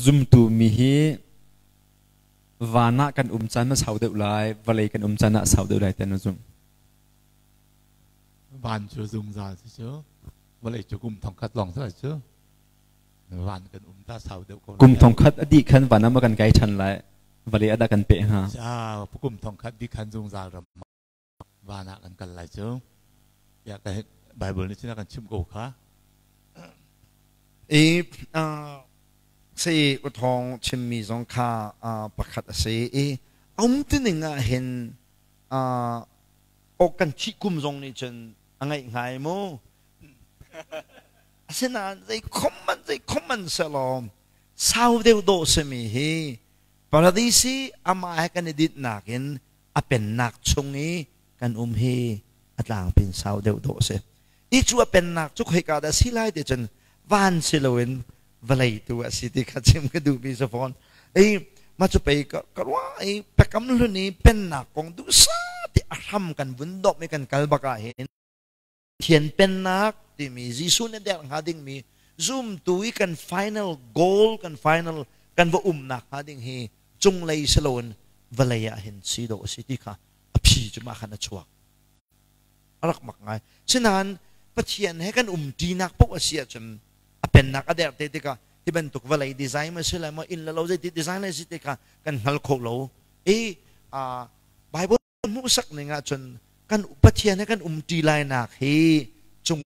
Zumtu mi hi van ah kan um caan na sau deuh lai, vawlei kan um caan ah sau deuh lai tiah na zumh. Van cu zungzal si cu vawlei cu kum thongkhat lawng cu cu van kan um ta sau deuh ko lai. Kum thongkhat a dih khan van ah maw kan kai ṭhan lai, vawlei ah dah kan peh hnga? Ah, kum thongkhat di khan zungzal ram van ah kan kal lai cu ya ka Bible nih sinah kan chim ko kha i si uthong chimmi zong kha pakhat a si i um tining ah hin o kan thi kum zong nih cun a ngaih ngai mu asinain zei khomman zei khomman selom sau deuh do simi hi paradisi ama he kan i ditnak in a pennak chung i kan um hi a tlangpin sau deuhdawh a si. Hi cu a pennak cu khoika dah si lai ti cun van si loin vawlei tu a si ti kha chim ka duhmi si fawn. I ma cu pei ka ka ruah i pekam hlun i pennak kong duhsah ti a hram kan vun dawp i kan kal bak ah hin Thian Pennak timi Jesuh nih a der hnga dingmi zumtu i kan final goal, kan final kan va um nak hnga ding hi cunglei si loin vawlei ah hin si dawh a si ti kha a phi cu mah khan a chuak. A rak mak ngai. Sinain Pathian he kan umṭinak paoh a si ahcun a pennak a der te tikah hi bantuk vawlei design ma si lai maw, inn le lo zeiti design lai si ti kha kan hngal kho lo. I, uh, Bible ka hmuhsak ning ahcun kan Pathian he kan umṭi lainak hi cung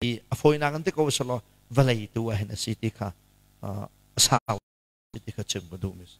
i a fawinak in ti ko selaw vawlei tu ah hin a si ti kha a sau ti kha chim ka duh mi si.